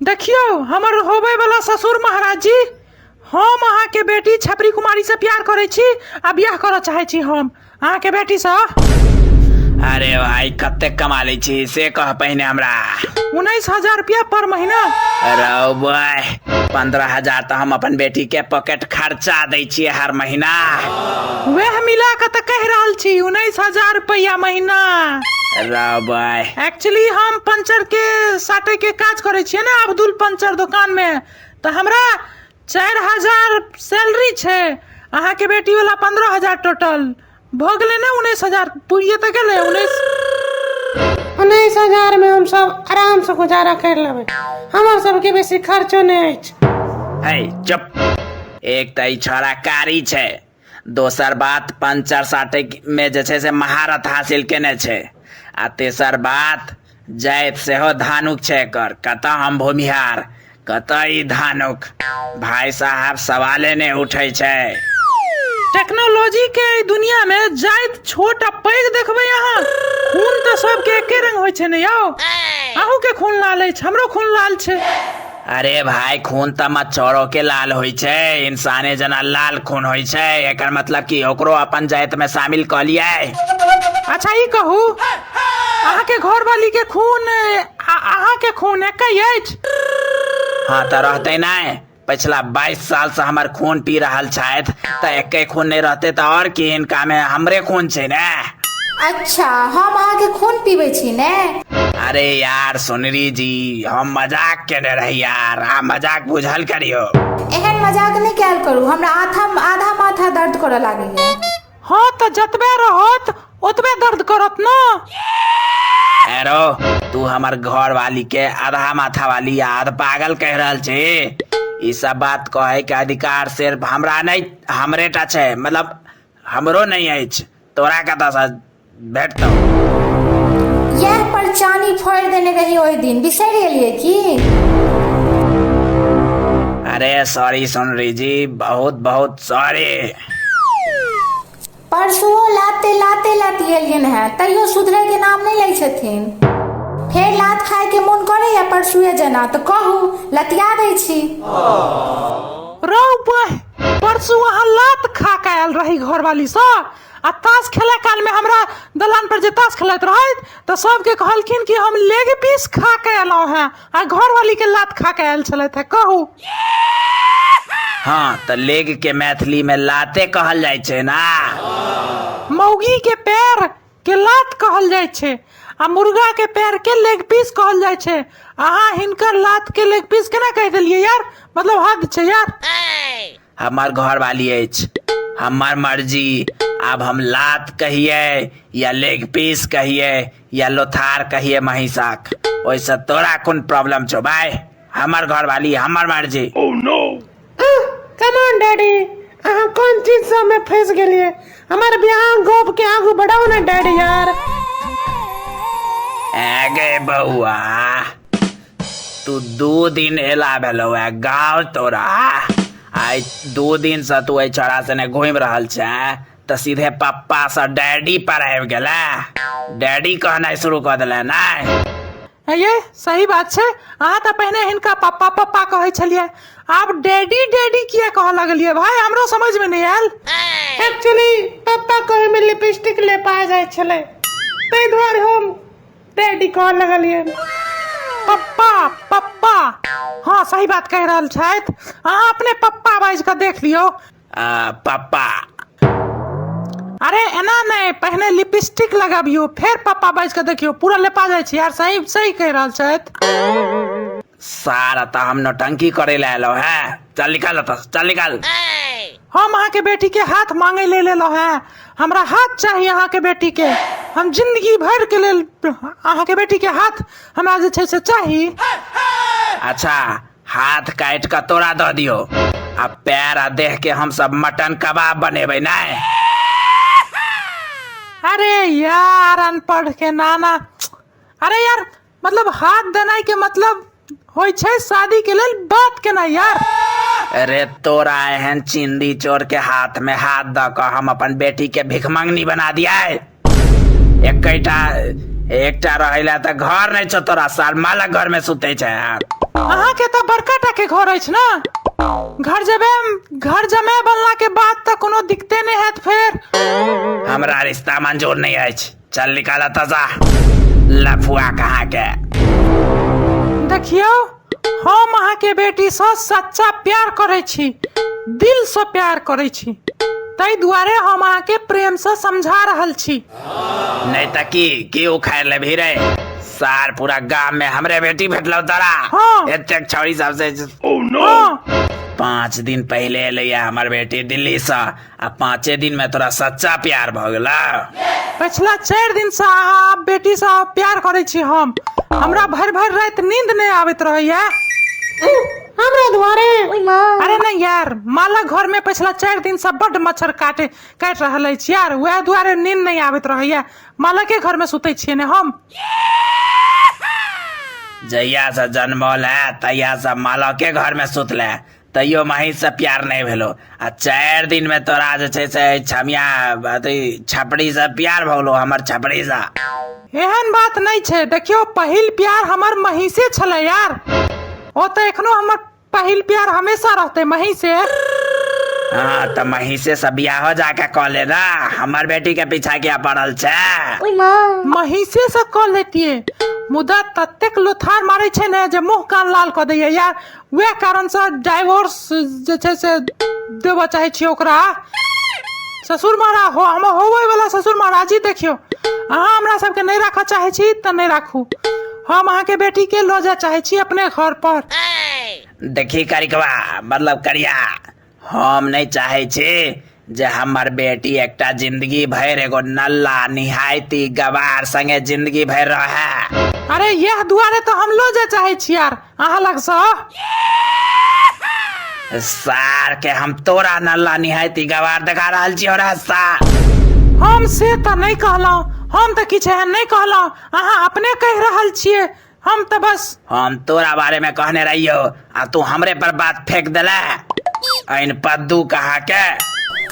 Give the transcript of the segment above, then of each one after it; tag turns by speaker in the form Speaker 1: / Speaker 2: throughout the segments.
Speaker 1: देखियौ हमर होबयवला ससुर महाराज जी हम अहाँके बेटी छपरी कुमारीसँ प्यार करै छी आ बियाह करऽ चाहै छी हम अहाँके बेटीसँ अरे भाई कते कमा लै छी से कह पहिने हमरा उन्नैस हजार रुपया पर महीना रौ बॉय पंद्रह हजार तो हम अपन बेटी के पॉकेट खर्चा दै छियै हर महीना वएह मिला के तऽ कह रहल छी उन्नीस हजार रुपया महीना राबाय एक्चुअली हम पंचर के साटे के काज करे छियै ने अब्दुल पंचर दुकान मे तऽ हमरा चारि हजार सैलरी छै अहाँ के बेटी वाला पंद्रह हजार टोटल भऽ गेलै ने उन्नीस हजार पूरिये तऽ गेलै उन्नीस उन्नीस हजार में हम सब आराम से गुजारा कर लेबै हमर सबके बेसी खर्चो नहीं अछि है चुप एक तऽ ई छौड़ा कारी छै दोसर बात पंचर साटयमे जे छै से महारत हासिल केने छै आ तेसर बात जाइत सेहो धानुक छै एकर कतऽ हम भूमिहार कतऽ ई धानुक भाय साहब सवाले नहि उठै छै टेक्नोलॉजी के एहि दुनिया में जाइत छोट आ पैघ देखबै अहाँ खून तऽ सबके एके रंग होइ छै ने यौ अहूँ के खून लाल अछि हमरो खून लाल छै अरे भाय खून तऽ मच्छरो के लाल होइ छै इंसाने जना लाल खून होइ छै एकर मतलब कि ओकरो अपन जाइत में शामिल कऽ लियै अच्छा ई कहू अहाँके घरवाली के खून आ अहाँके खून एकै अछि हाँ तऽ रहते नहि पिछला 22 साल से हमर खून पी रहल छथि तऽ एके खून नहि रहते तऽ और की इनका में हमरे खून छै ने अच्छा हम अहाँके खून पीबै छी ने अरे यार सोनरी जी हम मजाक केने रही यार आ मजाक बुझल करियो एहन मजाक नहि कयल करू हमरा आधा आधा माथा दर्द करऽ लागैए हाँ तो जतबे रहत ओतबे दर्द करत ना एरो तू हमर घर वाली के आधा माथा वाली आ आध पागल कह रहल छी ई सब बात कहे के अधिकार सिर्फ हमरा नहीं हमरे टा छै मतलब हमरो नहीं अछि तोरा कतऽसँ भेटतौ इएह पर चानी फोड़ि देने रही ओहि दिन बिसरि गेलियै की अरे सॉरी सोनरी जी बहुत बहुत सॉरी परसुओ लाते लाते लाते गेलियन हैं तैयो सुधरे के नाम नहीं लै छथिन फेर लात खाय के मोन करे या परसुए जेना तो कहू लतिया दै छी रौ बह परसू अहाँ लात खा के आयल रही घरवाली से आ ताश खेले काल में हमरा दलान पर जे ताश खेलत रही तो सबके कहलखिन कि हम लेग पीस खा के अयलहुँ हैं आ घरवाली के लात खा के आयल छलथि हैं कहू हाँ तऽ लेग के मैथिली में लाते कहल जाइ छै ना मौगी के पैर के लात कहल जाइ छै आ मुर्गा के पैर के लेग पीस कहल जाइ छै अहाँ हिनकर लात के लेग पीस केना कह देलियै यार मतलब हद छै यार हमर घर वाली अछि हमर मर्जी आब हम लात कहिए या लेग पीस कहिए या लोथार कहिए महिषाक ओहिसँ तोरा कोन प्रॉब्लम छौ भाय हमर घर वाली हमर मर्जी कमान डैडी अहाँ कोन चीज से हमें फंस गेलिए हमारे बियाह गोप के आगू बढ़ाओ ना डैडी यार आगे बउआ तू दू दिन एला भेलो है गाँव तोरा आइ दू दिन से तू एहि छोरा सने घूमि रहल छै तऽ सीधे पप्पा से डैडी पर आबि गेला डैडी कहनाइ शुरू कऽ देला नहि ये सही बात छै अहाँ तऽ पहिने हिनका पप्पा पप्पा कहै छलियै आब डैडी डैडी किया कहऽ लगलियै भाय हमरो समझ में नहीं आयल एक्चुअली पप्पा कहे में लिपस्टिक ले पाए जाए छले ताहि दुआरे हम डैडी कह लगलिए पप्पा पप्पा हाँ सही बात कह रहल छथि अहाँ अपने पप्पा बाजि कऽ देख लियौ आ पापा अरे एना नहि पहिने लिपस्टिक लगाबियो फेर पापा बाजि कऽ देखियो पूरा लेपा जाइ छी यार सही सही कहि रहल छथि सारा तऽ हम नौटंकी करे लए एलहुँ हैं चल निकाल एतऽ सँ, चल निकाल हम अहाँके बेटी के हाथ मांगे ले लेलहुँ हैं हमरा हाथ चाही अहाँके बेटी के हम जिंदगी भर के लेल अहाँके बेटी के हाथ हमरा जे छै से चाही अच्छा हाथ काटि कऽ तोरा दऽ दियौ आ पैर आ देह के हम सब मटन कबाब बनेबै नहि अरे यार अनपढ़ के नाना अरे यार मतलब हाथ देनाई के मतलब होइ छै शादी के लेल बात केना यार अरे तोरा एहन चिंदी चोर के हाथ में हाथ दऽ कऽ हम अपन बेटी के भिखमंगनी बना दिया एकैटा एकटा रहैला तऽ घर नहि छौ तोरा सार माला घर में सुते छै यार अहाँके तऽ बड़का टा के घर अछि ने घर जमे घर जमे बनला के बाद तऽ कोनो दिक्कते नहि हैत फेर हमरा रिश्ता मंजूर नहीं अछि चल निकाल तजा लफुआ कहाँ के देखियौ हम अहाँ के बेटी से सच्चा प्यार करे छी दिल से प्यार करे छी ताहि दुआरे हम अहाँ के प्रेम से समझा रहल छी नहीं तो की की उखाड़ ले भी रे सार पूरा गांव में हमरे बेटी भेटलो तोरा हाँ। एते छौरी सबसे हाँ पाँच दिन पहले एलैया हमर बेटी दिल्ली से आ पाँचे दिन में तोरा सच्चा प्यार भ गेला पछिला चारि दिनसँ अहाँ बेटीसँ प्यार करै छी हम हमरा भरि भरि राति नींद नहि आबैत रहैया हमरा दुआरे अरे नहि यार माला घर में पछिला चारि दिनसँ बड्ड मच्छर काटे काटि रहल अछि यार वएह दुआरे नींद नहि आबैत रहैया माला के घर में सुतै छियै ने हम जहिया से जन्मल है तहिया से मालके घर में सुतले तैयो माही से प्यार नहि भेलो आ चारि दिन में तोरा जे छै से छमिया अथी छपड़ी से प्यार भलो हमर छपड़ी से एहन बात नहि छै देखियो पहिल प्यार हमर महीसे छलै यार ओ तऽ एखनो हमर पहिल प्यार हमेशा रहतै महीसे हाँ तऽ महीसे से बियाहो जाके कऽ ले ना हमर बेटी के पीछा किया पड़ल छै महीसे से कऽ लेतियै मुदा ततेक लोथार मारै छै ने जे मुँह कान लाल कऽ दैया यार वएह कारण से डाइवोर्स जे छै से देबऽ चाहै छियै ओकरा ससुर मारा हो हम होबे वाला ससुर महाराज जी देखियौ अहाँ हमरा सबके नहि राखऽ चाहै छी तऽ नहि राखू हम अहाँके बेटी के लऽ जाय चाहै छी अपने घर पर देखी करिकवा मतलब करिया हम नहि चाहै छी जे हमर बेटी एकटा जिंदगी भरि एगो नल्ला निहायती गवार संगे जिंदगी भरि रहे अरे यह दुआरे तो हम लो जाय चाहे छी यार अहाँ लग से सार के हम तोरा नल्ला निहायती गवार देखा रहल छी रे सार हम से तऽ नहि कहलहुँ हम तऽ किछु एहन नहि कहलहुँ अहाँ अपने कहि रहल छियै हम तो बस हम तोरा बारे में कहने रहियो आ तू हमरे पर बात फेंक देला ऐन पद्दू कहा के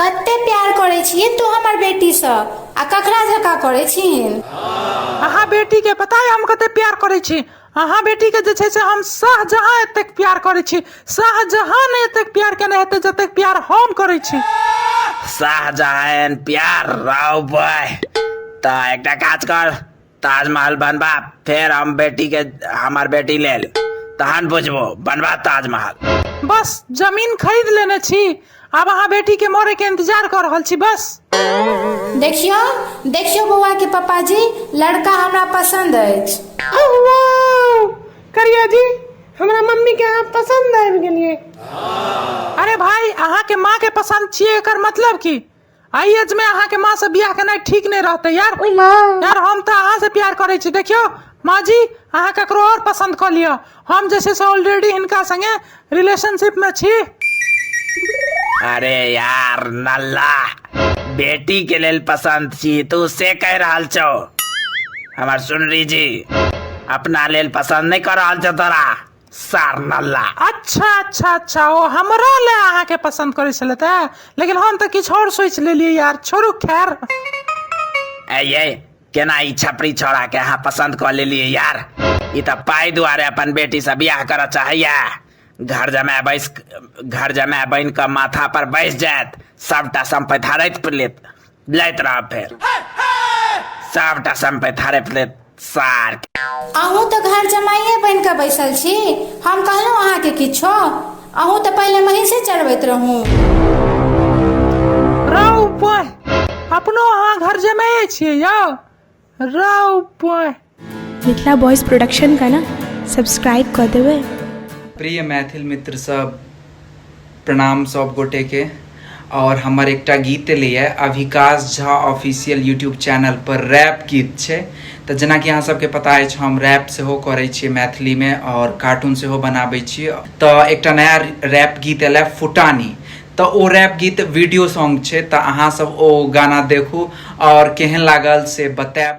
Speaker 1: कते प्यार करे छिए तू हमर बेटी से आ ककरा झका करे छिन अहाँ बेटी के पता है हम कते प्यार करे छी अहाँ बेटी के जे छै से हम शाहजहां एतेक प्यार करे छी शाहजहां ने एतेक प्यार केने हेते जतेक प्यार हम करे छी शाहजहां प्यार राव बॉय ता एकटा काज कर ताजमहल बनबा फेर हम बेटी के हमार बेटी लेल तहन बुझबो बनबा ताजमहल बस जमीन खरीद लेने छी अब अहाँ बेटी के मरे के इंतजार कर रहल छी बस देखियो देखियो बौआ के पापा जी लड़का हमरा पसंद अछि करिया जी हमरा मम्मी के अहाँ पसंद आबि गेलिए अरे भाई अहाँ के माँ के पसंद छिए एकर मतलब की आइ एज में अहाँ के माँ से बियाह केनाइ ठीक नहीं रहते यार ओइ माँ यार हम तो अहाँ से प्यार करे छी देखियो माँ जी अहाँ ककरो और पसंद कर लियो हम जैसे से ऑलरेडी हिनका संगे रिलेशनशिप में छी अरे यार नल्ला बेटी के लेल पसंद छी तू से कह रहल छो हमर सुनरी जी अपना लेल पसंद नहीं कर रहल छो तोरा सार नल्ला अच्छा अच्छा अच्छा ओ हमरा ले अहाँके पसन्द करै छलै तऽ लेकिन हम तऽ किछु आओर सोचि लेलियै यार छोड़ू खैर ऐ ये केना ई छपरी छोड़ा के अहाँ पसंद कऽ लेलियै यार ई तऽ पाइ दुआरे अपन बेटी से बियाह करऽ चाहैया घर जमाय बैस घर जमाय बनि कऽ माथा पर बैस जायत सबटा सम्पत्ति हड़ैत लेत लैत रह फेर सबटा सम्पैत हड़पि लेत सार अहूँ तऽ घर जमाइए बनि कऽ बैसल छी हम कहलहुँ अहाँके किछो अहूँ तऽ पहिले महींसे चढ़बैत रहूँ रौ पोह अपनो अहाँ घर जमाए छियै यौ राव पॉय मिथिला बॉयज प्रोडक्शन का ना सब्सक्राइब कर देवे प्रिय मैथिल मित्र सब प्रणाम सब गोटे के और हमर एकटा गीत लिए Abhikash Jha official YouTube channel पर रैप गीत छै तऽ जेना कि अहाँ सबके पता अछि हम रैप सेहो करै छियै मैथिली में और कार्टून सेहो बनाबै छियै तऽ एकटा नया रैप गीत एलै फुटानी तऽ ओ रैप गीत वीडियो सॉन्ग छै तऽ अहाँ सब ओ गाना देखू और केहन लागल से बतायब